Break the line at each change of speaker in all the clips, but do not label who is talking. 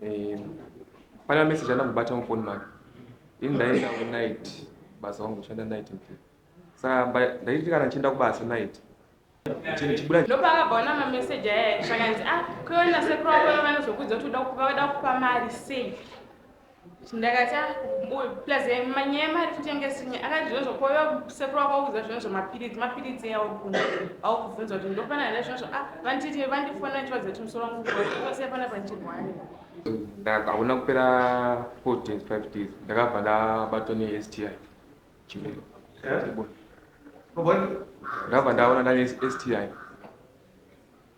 Eh, pana message ana kubata mu phone make. Ini ndaenda ku night basa wangu shanda night mpi. Saka ndaiti kana chienda kubasa night. Chini chibuda. Ndopa akabaona ma
message aya shakanzi ah kuona sekuru wako vanozokudza kuti uda kupa uda kupa mari sei. ndakati ah, plus eh, manyaya mari kutengesinye akati zvinozvo koyo sekuru wakaudza zvinozvo mapiritsi mapiritsi eyawo kuno awo kubvunza kuti ndofanira here zvinozvo ah, vanditi vandifona ndichivaza kuti musoro wangu kuosia pana pandirwani
hakuna kupera four days five days ndakabva ndabatwa nesti chimiro eh? ndakabva ndaona ndane sti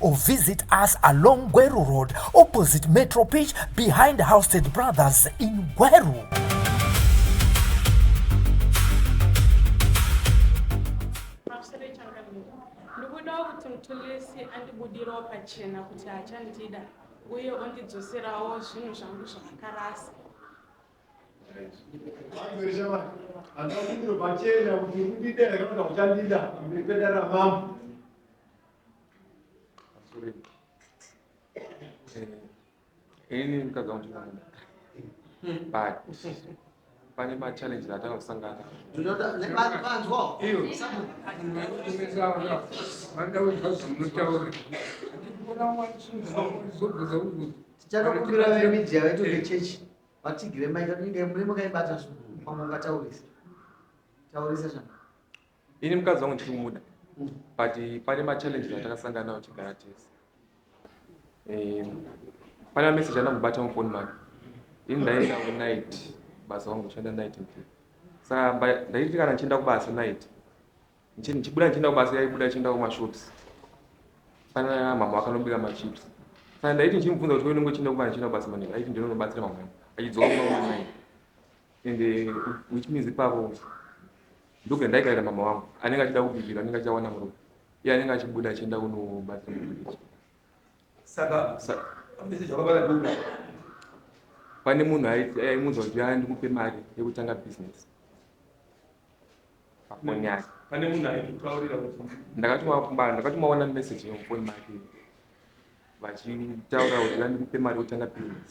or visit us along Gweru Road opposite Metro Pitch behind Housestead Brothers in Gweru.
uye ondidzoserawo zvinhu zvangu zvavakarasa handakundiro pachena kuti ndidera kana kuti uchandida mberi pedara
mambo ini mukadzi wangu ndinomuda but pane machallenges atanga kusangana
tichatokumbira vemidia vedu vechechi vatigire maita inge muri mukaibata zvo pamwe ungataurisa taurisa zvana ini mukadzi
wangu ndiri kumuda but pane machallenges atakasangana nawo chigara tese eh, pane mameseji anamubata mufoni make ini ndaenda kunight basa wangu kushanda night mpe sa ndaiti kana ndichienda kubasa night ndichibuda ndichienda kubasa yaibuda achienda kumashops pana mama vakanobika machips sa ndaiti ndichimubvunza kuti unenge uchienda kubasa ndichienda kubasa manei aiti ndinonobatsira mama achidzoka kumaonai and uh, which means ipapo Ndokuya ndaikarira mama wangu anenge achida kubikira anenge achawana murume iye anenge achibuda achienda kunobatsira mubiriji saka pane munhu aimunzwa kuti yaa ndikupe mari yekutanga business pafoni yake ndakatomaona message yemufoni make vachitaura kuti yaa ndikupe mari yekutanga business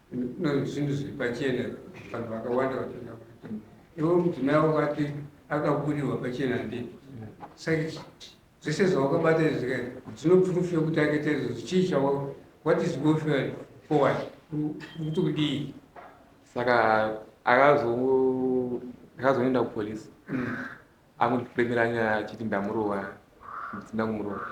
zvinhu zviri pachena vanhu vakawanda vatoda ivo mudzimai wavo vati akaburirwa pachena ndii saka zvese zvawakabata izvi zvikai zvinopurufia kuti akaitaizvo chii chawa what is go forward kuti kudii saka
akazoenda kupolisi mm. Akundipemera nyaya achiti ndamurova ndisina kumurova.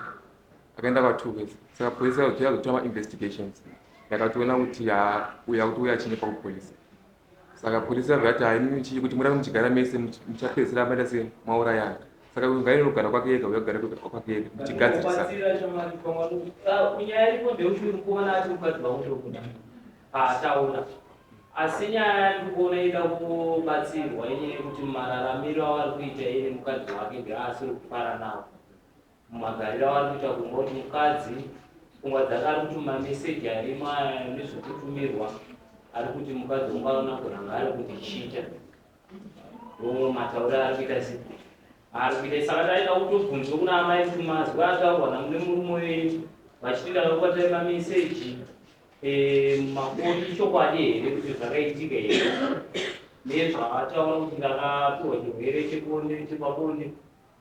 Akaenda kwa two ways. Saka police yazotora yazotora ma investigations. Yakatoona kuti haa uyu akutouya achinyepa ku police. Saka police yabva yati haa imimi chii kuti murambe muchigara mese much- muchapedzisira maita sei maurayana. Saka uyu ngaende kugara kwake ega uya kugara kwe- kwake ega muchigadzirisa. Kubatsira shamwari pamwe anokuti, "Ah, kunyaya
iripo ndeuti uri kuona ati mukadzi wangu ndokuda paataura asi nyaya yandikuona ida kubatsirwa ini nekuti mararamiro avari kuita iye nemukadzi wake ndeaasiri kufara nawo mumagariro avari kuita kumba kuti mukadzi pfungwa dzake ari kuti mameseji arimo aya nezvekutumirwa ari kuti mukadzi ungaona kuranga ari kundichita omwe matauri ari kuita si ari kuita saka ndaida kutobvunzwa kuna amai kuti mazwi ataurwa namune murume wenyu vachitira vakubatai mameseji Makoti ichokwadi here kuti zvakaitika here nezvataura kuti ndakapiwa chirwere chebonde chepabonde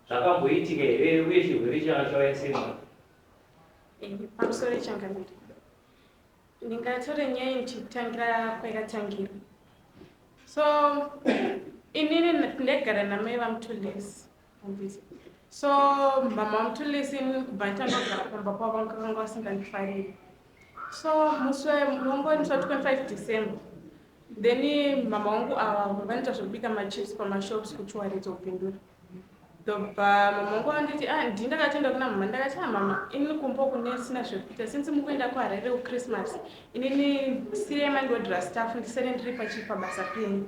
zvakamboitika here uye chirwere changa chauya sei mwana pamusoro
ichangamire ndingatore nyaya ndichitangira kwayakatangira so inini ndaigara namai vamutolesi so mama mutulisi kubhaita ndogara pamba kwavo vakanga vasingandifariri so musi wongoendeswa 25 december then mama wangu ava vanoita zvekubika machips pamashops kuchiwaridza kupindura ndobva mama wangu vanditi ah, ndi ndakatoenda kuna mama ndakati a ah, mama ini kumbo kunesina zvekuita since mukuenda kuharare kuchristmas Inini siri mangodira staff ndisene ndiri pachi pabasa penyu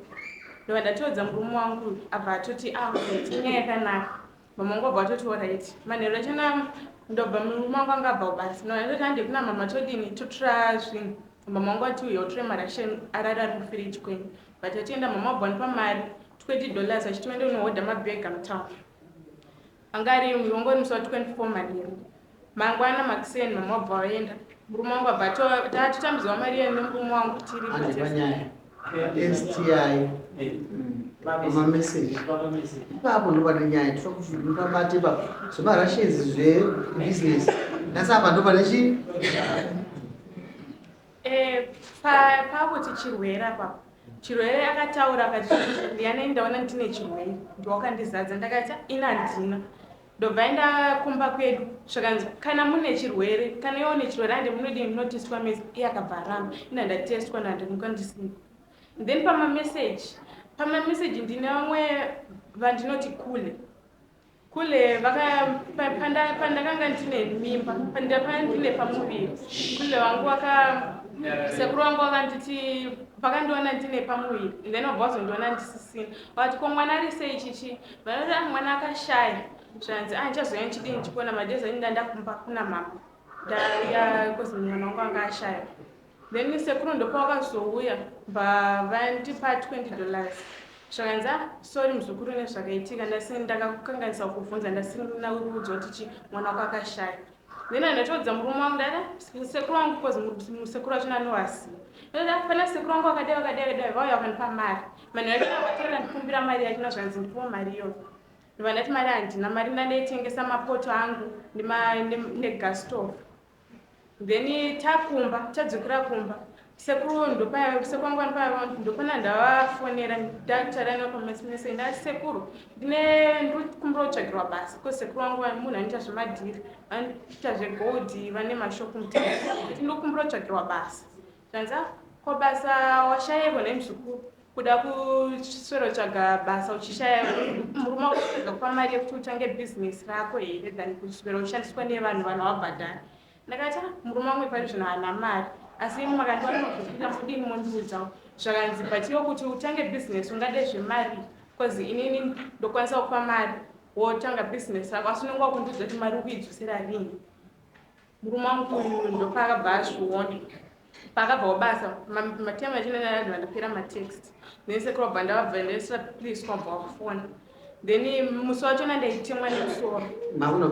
ndova ndatoudza murume wangu abva atoti aainyaya ah, yakanaka mamangu abva atoti orit manheru acho na ndobva murume wangu anga abva kubasa ndova ndatoti hande kuna mama todini totora zvinhu mama wangu ati uyo utore mari ashe arari ari mufiriji kwenyu but atienda mama abva ndipa mari twedi dollars achiti wende unohodha mabhega mutown Anga ari imwi wangori musi wa 24 manheru. Mangwana makuseni mama wabva waenda. Murume wangu abva atova tatotambidzwa mari yenu nemurume wangu tiri Handi patest.
panyaya. STI. Mama message. Ipapo ndopane nyaya tokubate ipapo zvemarashes zvebusiness. Nhasi apa ndopane chii? Eh,
pakuti chirwere apa chirwere akataura akati ndianei ndaona ndine chirwere ndiwakandizadza ndakati ina handina ndobva enda kumba kwedu zvakanzi kana mune chirwere kana iwo une chirwere ande munodii munotestwa mese iye akabva aramba ina ndatestwa ndandimuka ndisina then pamameseji pamameseji ndine vamwe vandinoti kule kule pandakanga ndine mimba ndapaa ndine pamuviri kule wangu waka sekuru wangu wakanditi vakandiona ndine pamuviri then wabva wazondiona ndisisina vati ko mwana ari sei chichi vanoti ah, mwana akashaya zvanzi a ah, ndichazouya ndichidii ndichikuona madezi anyi ndandakumba kuna mama ndaya kozi mwana wangu anga ashaya Then sekuru ndopavakazouya bva vandipa 20 dollars zvakanzi ah sorry muzukuru nezvakaitika ndasi ndakakukanganisa kukubvunza ndasina kuudzwa kuti chi mwana wako akashaya then andatoudza murume wangu dada sekuru wangu bcause musekuru wachona anovaziva dada pana sekuru wangu vakadai vakadai vakadai vauya vakandipa mari vanhu vacho vatorera ndikumbira mari yachona zvakanzi ndipiwa mari iyoyo ndovandati mari handina mari ndandaitengesa mapoto angu negas stove then takumba tadzokera kumba sekuru ndopaya sekwangwani paya vangu ndopana ndavafonera ndataura navo pamasimese ndati sekuru ndine ndikumbira kutsvagirwa basa ko sekuru vangu va- munhu anoita zvemadhiri vanoita zvegold vane mashop mutati ndikumbira kutsvagirwa basa Tanza, ko basa washayepo nhai mzukuru? Kuda kuswerotsvaga basa uchishaya murume wako kutsvaga kupa mari yekuti utange bhizinesi rako here than kuswera ushandiswa nevanhu vanhu wabhadhara. Ndakati ah, murume wangu pari zvino haana mari asi imwe makandiwana kuzvipira mudini mondiudzawo zvakanzi but iwo kuti utange bhizinesi ungade zvemari bcause inini ndokwanisa kupa mari wotanga bhizinesi rako asi unenge wakundiudza kuti mari ukuidzosera rini Murume wangu uyu ndopaakabva azviona paakabva wabasa matemu achinenayadzi vandipera matext then sekuru wabva ndavabva ndaisira please kwabva wakufona then musi wacho nandaitemwa nemusoro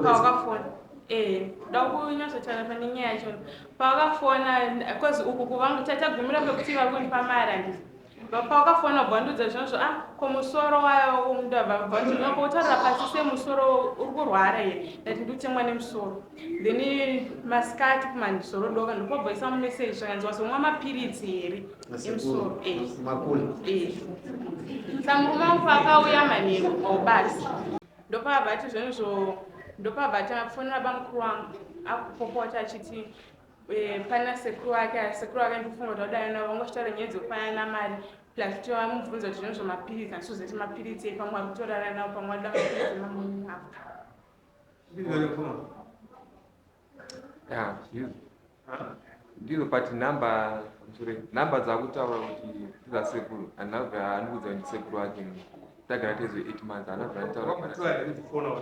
pawakafona eh, da kunyatsotana pane nyaya yacho pawakafona bcause uku kuvangu tatagumira pekuti vakundipa mari andii Pawakafona bvandudza zvinazvo a ah, ko musoro waya womuda vabvandudza ko utarira pasi semusoro uri kurwara here ndati ndiutemwa nemusoro then masikati kumanzoro doka ndikobvaisa mumeseji zvakanzi wazomwa mapiritsi here emusoro eh. eh. samurume wangu paakauya manheru obasi ndopavati zvenizvo ndopavati afonera bamukuru wangu akupopota achiti Eh, pana sekuru wake ah, sekuru wake ndikufunga kuti wadai navo vangochitaura nyaya dzekufanya namari plus kuti vamubvunza kuti zvino zvamapiritsi andisozoti mapiritsi ei pamwe ari kutorara navo pamwe aida mapiritsi mamuni avo ah, ndizo
but number sorry number dzakutaura kuti ndiza sekuru anabva andiudza kuti sekuru wake tagara tezo eight months anabva anditaura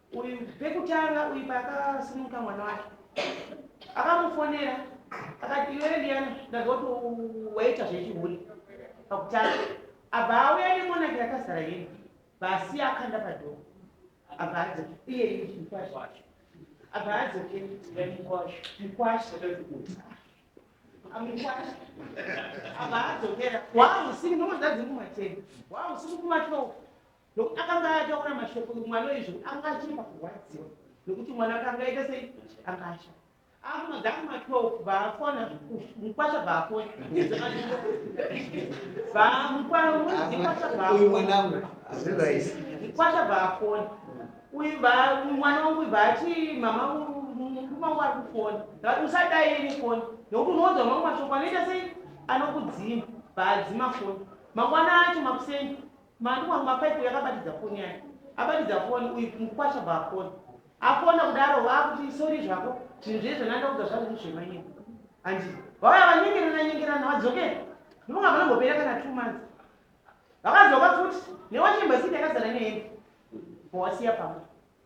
Uyu pekutanga uyu paakasimuka mwana wake akamufonera akati iwe Liyana ndanzwa kuti waita zvechihule pakutanga abva auya nemonaki yakazara yini basi akanda padhoo abva adzoka iye mukwasho abva adzoke mukwasho amukwasho abva adzokera waausiri ndomozadzimumateni waausiri kumatoo nokuti akanga ataura mashoko mwana uyu zvekuti anga achiri pakurwadziwa nokuti mwana akanga aita sei anga asha akunodzaku matwelve vaafona mukwasha vaafona vamukwasha vaafona mukwasha vaafona uyu mwana wangu uyu vaati mama mukuma wangu ari kufona vati usadai ini fona nokuti unoudza mamwe mashoko anoita sei anokudzima vaadzima fona mangwana acho makuseni Mani wangu mapaipu yakabatidza foni yake abatidza foni uyu mukwasha bafoni afona kudaro vakuti isori zvako zvinhu zvezvo nandaudza zvangu ndizvemanyika handi vauya vanyengerana nyengerana vadzokera ndivonga vanongopera kana two months vakadzoka futi newachembasidi yakazara nehembe vowasiya pamwe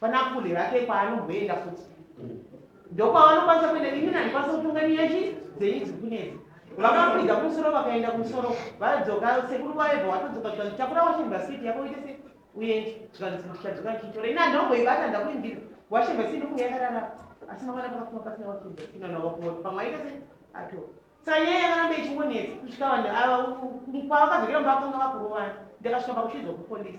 Pana kule vake kwaanongoenda futi. Ndokwavanokwanisa kuenda imi nani kwasa kutonga nyaya chi dzenyu dzikunedzi. Vakakwidza kumusoro vakaenda kumusoro vadzoka sekuru kwaeva watodzoka zvikanzi chakura washemba siti yako uite se uende zvikanzi ndichadzoka ndichitora ini andongoibata ndakuindira washemba siti ndokunge yakarara asi mavana pakafuma pasina washemba siti nana wakuona pamwe aita se atora sanyaya yakaramba ichingonetsa kusvika vanhu ava kwavakazokera mba vakanga vakurovana ndakasvika pakushidzwa kupolisi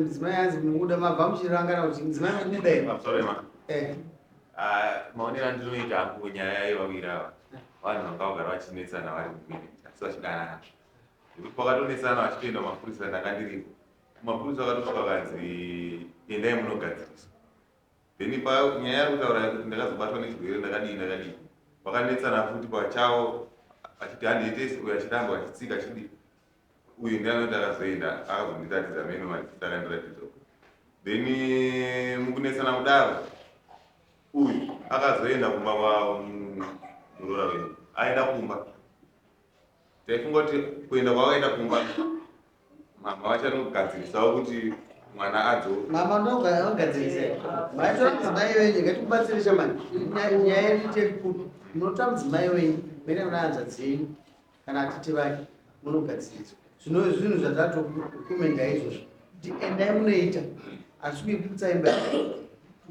mudzimai anzi mukuda mabva muchirangana kuti mudzimai mukuda here sorry ma
eh ah, maonero andinoita hangu nyaya yevawiri ava vanhu vanga vagara vachinetsana vari mumwiri asi vachidanana nekuti pakatonetsana vachitoenda mapurisa ndakandiripo mapurisa akatosvika kanzi endai munogadzirisa then pa nyaya yari kutaura kuti ndakazobatwa nechirwere ndakadii ndakadii vakanetsana futi pachavo achiti handietes uyo achiramba achitsika achidii uyu ndiye anoti akazoenda akazondiratidza meno machita akandiratidza then eh, mukunetsana kudaro uyu akazoenda kumba kwamuroora mm, wedu aenda kumba taifunga kuti kuenda kwakaenda kumba mama vachanogadzirisawo kuti mwana adzo mama ndogadzirisa
maitamdzimai wenyu ngatimubatsirisha mani nyaya yedu tekukuti munotamdzimai wenyu mene mnaanza dzenyu kana atete vake munogadziridza zvino zvinhu zvatatokumenda izvozvo kuti endai munoita asi kuiputsa imba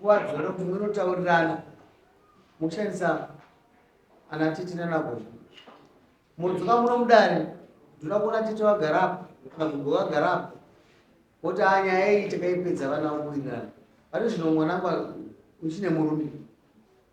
kuwadzora kuti munotaurirana mukushandisa ana tete nanagogo mudzoka muno mudare ndinoda kuona tete vagara apo kana gogo vagara apo woti a nyaya iyi takaipedza vana vakuwirirana vati zvino mwanangu uchine murume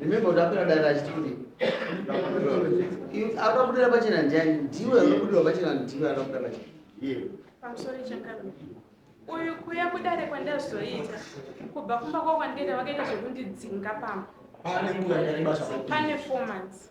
Remember ndakwira dare achiti kudii? Anoda kudira pachena ndiani? Ndiwe unokudira pachena ndiwe anoda kudira pachena. Ndiye. Pamusoro
chakadaro. Uyu kuya kudare kwandazoita kubva kumba kwakwandienda vakaita zvekundidzinga pamba. Pane nguva yakareba zvakadini? Pane four months.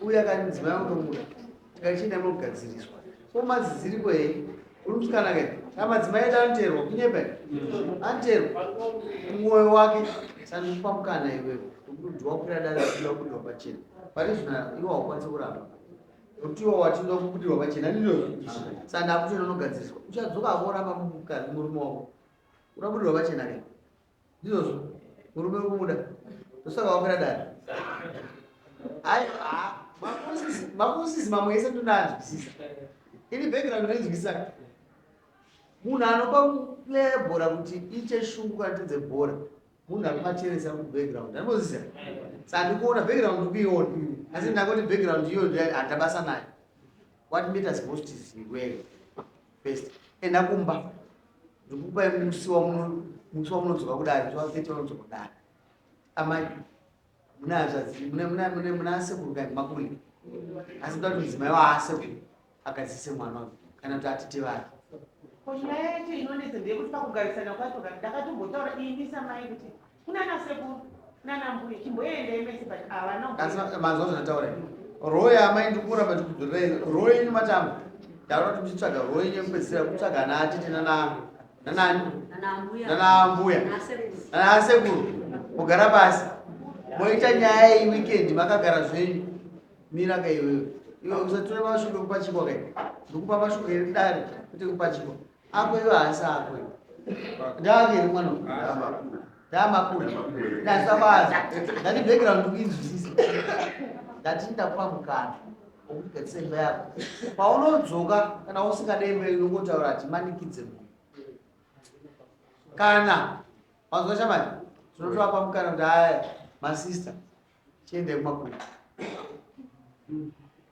uye akati mudzimai anotomuda tikachienda mogadziriswa so maziziriko hei uri musikana ke a madzimai edu anoteerwa kunyepa anoteerwa mwoyo wake sandipa mukana iwewe nokuti wakwira dare achida kubudirwa pachena pane zvina iwe haukwanisi kuramba nokuti iwe wachida kubudirwa pachena ndinozi sandakutoenda unogadziriswa uchadzoka akoramba mukadzi murume wako urabudirwa pachena ke ndizvozvo murume ukubuda ndosaka wamira dada makusizi mamwe ese ndonanzwisisa ini background ndainzwisisa munhu anopa kuplaya bhora kuti iite shungu kana tedze bhora munhu akumacheresa kubackground anozisa sandikuona background kuiona asi ndakoti background iyo handabasa nayo what matters most is iwewe best enda kumba ndikupai musi wamunomusi wamunodzoka kudari zvavakete vanodzoka kudari amai muna hazvadzi muna asekuru kai makuli asi ndoda kuti mudzimai waasekuru agadzise mwana uyu kana kuti atete vake ko nyaya yacho
inonetsa ndeyekuti pakugarisana kwacho kana ndakatombotaura ini samai kuti kunana sekuru nana mbuya chimboendei
mese but havana asi manzwa zvataura royi amai ndikura matikudhurei royi yenyu matamba ndaona kuti muchitsvaga royi yenyu yekupedzisira kutsvaga ana atete nana nanani nana ambuya nana asekuru mugara pasi moita nyaya iyi weekend makagara zvenyu mira ka iwewe iwe usatura mashoko ekupachikwa kai ndikupa mashoko eri dare kuti ekupachikwa Ako iwe haasi ako iwe. Ndaviri mwana uyu. Ndamakura. Ndasabaza. Ndati background kuinzwisisa. Ndati ndakupa mukana. Okuti ketsemba yako. Paunodzoka kana usingade imba inongotaura ati manikidze mumwe. Kana wanzwa shamani tinotovapa mukana kuti haya masista tiende kumakura.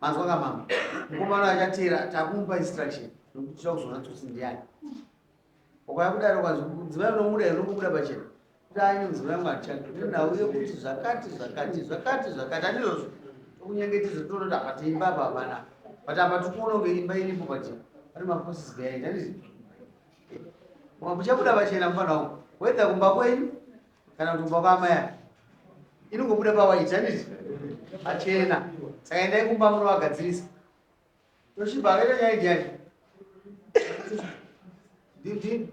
Manzwa ka mama. Mukomana achatera takumupa instruction nokuti tinoda kuzoona tsotsi ndiani. Ukauya kudaro kwazi mudzimai unomuda here unokubuda pachena. Kuti anyi mudzimai wangu hatichadi. Kuti ndauye kuti zvakati zvakati zvakati zvakati andizvozvo. Tokunyengetedza toona kuti apa tiimba apa hapana. But apa tiri kuona kunge imba iripo pachena. Pane maforces behind andizvo. Muchabuda pachena mufana wangu. Whether kumba kwenyu kana kuti kumba kwaamai ake inongobuda pawaiti handiti pachena saka endai kumba munovagadzirisa toshiba akaita nyaya idi yacho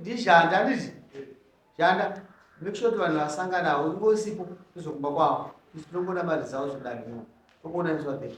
ndishanda handiti shanda make sure kuti vanhu vasangana avo ungosipo tozokumba kwavo tisu tongoda mari dzavo zvodanio tokuona iswadhei